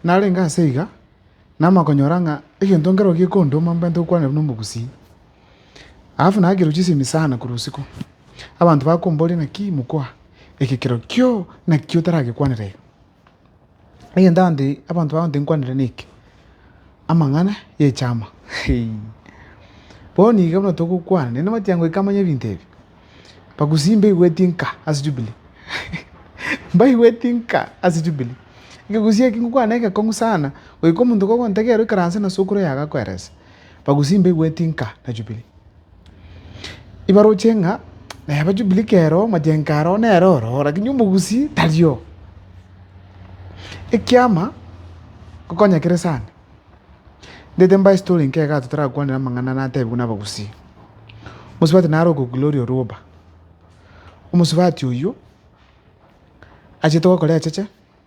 Narenge ase iga, namanya konyora ng'a egento nkero gekondoma mbwate gokwanera buna omogusii. Alafu nagerwa chisemi sana korwa isiko, abanto bakomboria naki mokoa ekekero kio naki otaragekwanera iga. Egento abanto abanto bagotebi nkwanere neke, amang'ana y'echaama heei. Bono iga buna togokwana, naende nabati tiga goika amanye ebinto ebi, bagusi mbaigweti nka ase jubilee mbaigweti nka ase jubilee. Ekegusi eke ngokwana neke ekong'u sana, goika omonto kogontega ere oikaranse na sokoro yago akoerese, bagusi mbaigweti nka na jubilee. Ibaroche ng'a neba Jubili kera omochenge aro nere oro, lakini omogusii tario. Ekiama ngokonya kere sana, ndete mbae story enke iga totarakwanera amang'ana natebiwa nabagusii. Omosubati naro oko Gloria Orwoba, omosubati oywo achiete gokora echeche.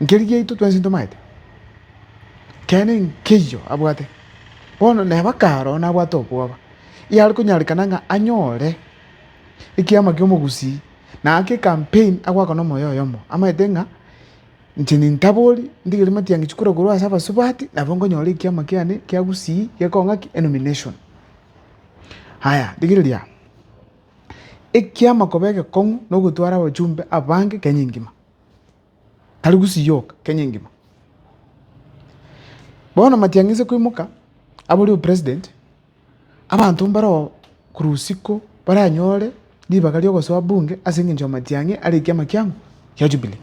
Nkeri giaito twensi ntomaete, keene nkeiyo abwate. Bono neba karo nabwate obwoba, iare konyarekana ng'a anyore ekiama ki'omogusii, na ake ecampaign agoaka nomoyo oyomo, amaete ng'a inche nintabori ndigere Matiang'i kura korwa ase abasubati nabo nkonyora ekiama kiane kia gusii gekong'a ki? Enomination. Aya, rigereria amo, ekiama koba egekong'u nogotwara abachumbe abange Kenya engima. tari gusiyoka Kenya engima. Bono Matiang'i ase koimoka abore opresident, abanto mbaroo korwa usiku baranyore ribaga ria ogosoa bunge ase eng'encho ya Matiang'i are ekiama kiabo kia Jubilee.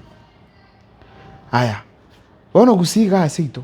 Aya, bono gusii igaa seito.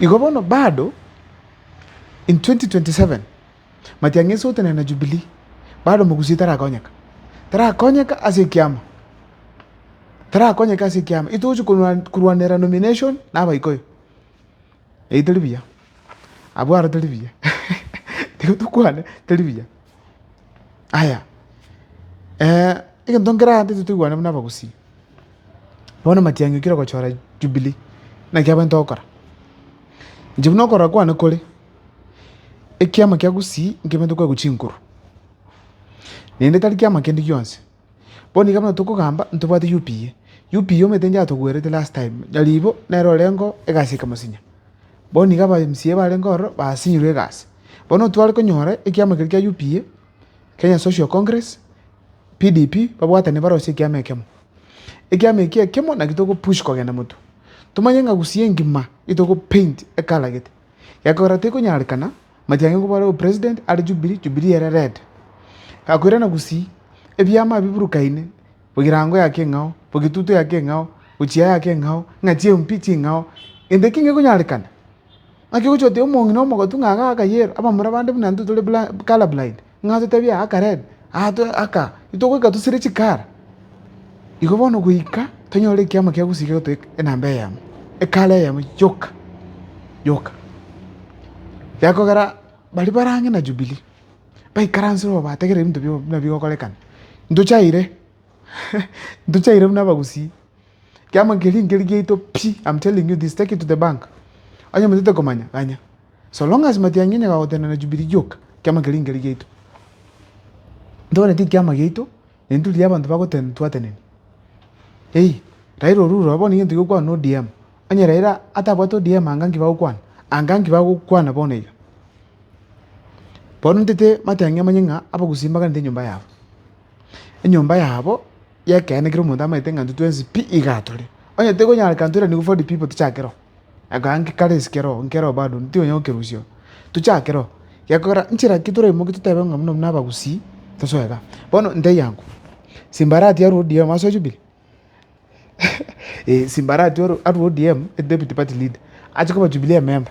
Igo bono bado in 2027 matiang'ese gotenena na Jubilee, bado mogusia tarakonyeka, tarakonyeka ase ekiama, tarakonyeka ase ekiama, itogochia korwanera nomination na abaikoyo, eyi tari buya, abwo aro tari buya, tiga tokwane tari buya. Aya, eh, egento nkeragantete toigwane buna abagusii, bono matiang'i okire gochora jubilee, naki abagainto gokora. Inche buna okorora kwane kore, ekiama kia gusii nkebanto kwaigwa chinguru, naende tari kiama kende gionsi. Bono iga buna tokogamba ntobwate UPA, UPA omanyete inche atogwerete last time, nyaribo nere orengeo egasi ya kemosinya, bono iga aba mca barenge ororo basinyirwe egasi, bono tware konyora ekiama keria kia UPA, Kenya Social Congress, PDP, babwatane barosie ekiama ekemo. Ekiama eki ekemo naki togo push kogenda motwe, tomanye ng'a gusii engima nigo togo paint ekala gete, gekogera tekonyarekana. Matiangi nkobare o president are jubilee jubilee ere red gakoirana gusii ebiama ebi biburukaine egerango ya keng'ao egetutu ya keng'ao gochia ya keng'ao ng'a chie MP ching'ao gento eke ngekonyarekana naki ogochia oteba omong'ina omogotu ng'a iga akayero abamura bande buna intwe tore color blind. Ng'a totebi aa akarebe, aa aka, itogoika tosire chikara. Igo bono goika tonyore ekiama kia gosiria gotoe enamba eyemo, ekara eyemo yoka yoka. Gekogera baria bare ang'e na Jubilee, baikaransire oo bategereri ebinto buna bigokorekana, ntochaire ntochaire buna abagusii, Ekiama keria nkeri giaito pi, am telling you this, take it to the bank. Onye motete komanya, ganya. So long as matiangi onye gagotenena Jubilee gioka, ekiama keria nkeri giaito. Ntogwene ti ekiama giaito, ne nturi ya abanto bagotena twateneni. Hey, Raila oru rora bono egento giokwana na ODM. Onye Raila atabwate ODM anga nki bagokwana? Anga nki bagokwana bono iga? Bono ntete matiangi amanye ng'a abagusii mbaganete enyomba yabo. Enyomba yabo Y'ekeene kera omonto amaete ng'a intwe twensi pi iga atore. Onye tikonyara kera toiraniwe for the people tochake roo. Akoa nki kare esike roo nke roo bado ntionyara gokerusia oo. Tochake roo. Gekogera nchera ki toraimoke totebe ng'a buna buna abagusii tosoe iga. Bono ntebi ango. Simbarati arue ODM asoe Jubilee? Simbarati arue ODM, Deputy Party Leader, ache koba Jubilee ememba.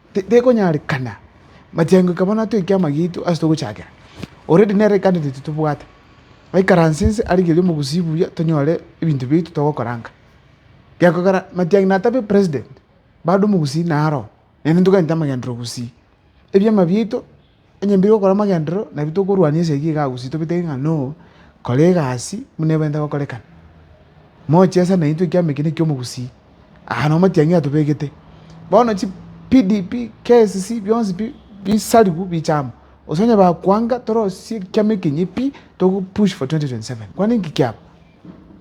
Tekonyarekana machengo eka bono atoe ekiama giaito ase togochakera, already nere candidate tobwate, aikaranse nse arigerie omogusii buya tonyore ebinto biaito togokorangaa, gekogera matiang'i natabe president bado omogusii naro, naende ntoganyete amagendereo gusii, ebiama biaito. Onye mbire gokora amagenderero, nabwo tokorwania esegi iga gose tobetege ng'a no, kora egasi buna ebwenerete gokorekana. Mochi ase naintwe ekiama eke nekia omogusii, aa na amatiang'i atobegete. Bono chi PDP, KCC bionsi pi bisariwu biche amo, gose onye bakwanga torosie ekiama ekenye pi togo push for 2027. Kwani inki kiaba?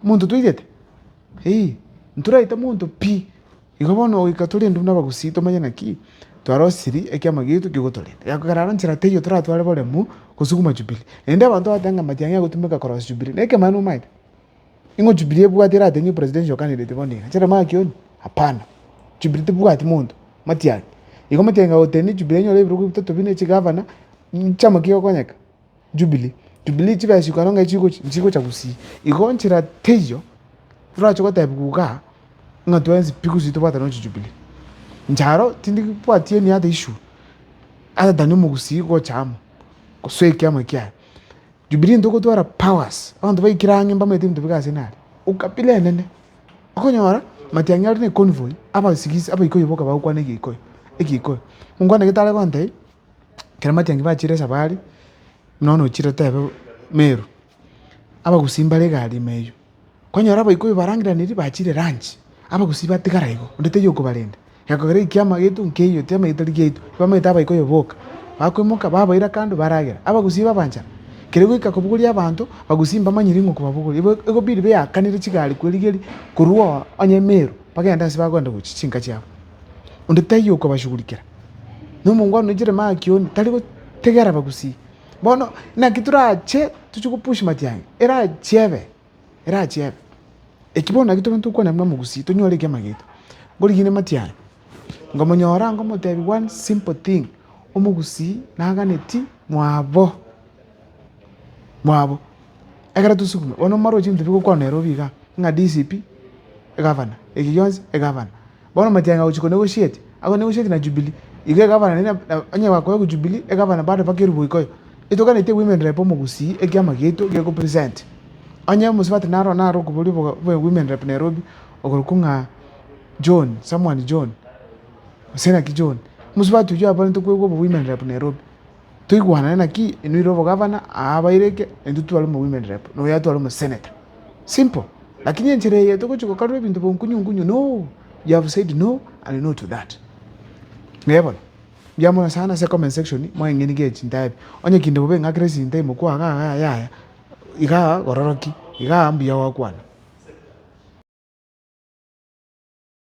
Monto toigete? Eei, ntoraite monto pi. Igo bono goika tore induru nabagusii tomanye naki twarosirie ekiama gieito kegotorenta. Gekogera aro nchera teiyo toratware boremu gosuguma Jubili. Naende abanto bagoteeba ng'a amatiang'i agotumeka korosia Jubili. Nekemo aye nomaete? Ning'o Jubili ebwate erateng'e presidential candidate bono iga? Nchera makioni? Hapana. Jubili tebwati monto, matiang'i. Igo matiang'i agotenena Jubili enyore ebirogo bitato bine, chigavana, nchama ki egokonyeka? Jubili, Jubili chibe chikoro ng'a chigochi nchigocha gusii, igo nchera teiyo torache gotebiwa igaa, ng'a twensi pi gusii tobwate nochi Jubili. Inche aro tindi bwati any other issue other than omogusii gocha amo, gose ekiama ekiaye. Jubili ntogotwara powers, abanto baikire ang'e mbamanyete ebinto bike ase nare, ukabila enene. Okonyora matiang'i are na econvoy, abasigisi abaikoyo boka bagokwana egeikoyo egeikoyo. Monkwana gete are goteba. Ekero matiangi bachire esabari, buna one ochire otebe Meru, abagusii mbare egari ime eywo. Kwanyora abaikoi barangeraniri bachire lunch, abagusii batigara igo, onde taiyo okobarenda. Egento kere ekiama giaito nkeiyo, tiamanyeti tari giaito. Bamanyete abaikoi aba boka. Bakoimoka, babaira kando, baragera. Abagusii babanchara. Kere goika kobogoria abanto, abagusii mbamanyiri ng'a okobabogoria. Igo ekobidi beakanire chigari kwerigeria korwa oo onye Meru, bagende ase bagenda gochia chinka chiabo. Onde taiyo okobashugurikera. na omongwana o Jeremakioni tari gotegera abagusii. Bono naki torache tochie go push matiang'i, erache ebe, erache ebe. Eki bono naki tokonywa tokwana buna omogusii tonyore ekiagera giaito. Ngorigine matiang'i, nkomonyora nkomotebia one simple thing, omogusii naganeti mwabo, mwabo. Ekero tosugume, bono omorwoti ntitogokwana nere obe igaa, ng'a DCP, egavana, eki gionsi egavana. Bono matianga gochia konegoshieti, agwo negoshieti na Jubili, igo egavana ne, na onye bakoya ku Jubili, egavana bado mpaka erubo ikoyo. Etoganeti egwimenera epo omogusii ekiama giaito geko present. Onye omosubati naro naro okoboria oboga bwe gwimenera epo Nairobi, okorokwa ng'a John, someone John, gose naki John. Omosubati oyio abarente kwegwa obogwimenera epo Nairobi. Toigwanane naki? Inwe ire obogavana, aa abaireke, intwe tware omowomen rep, noyo atware omosenator. Simple. Lakini enchera eye togochia gokarora ebinto bonkunyu nkunyu, no, you have said no and no to that. Ee bono. Mbuya mono sana ase comment section mweng'eni ge chintaa ebi. Onye kinde bobe ing'akera esinta imo kwa iga iga yaya, iga gororoki, iga mbuya gwakwana.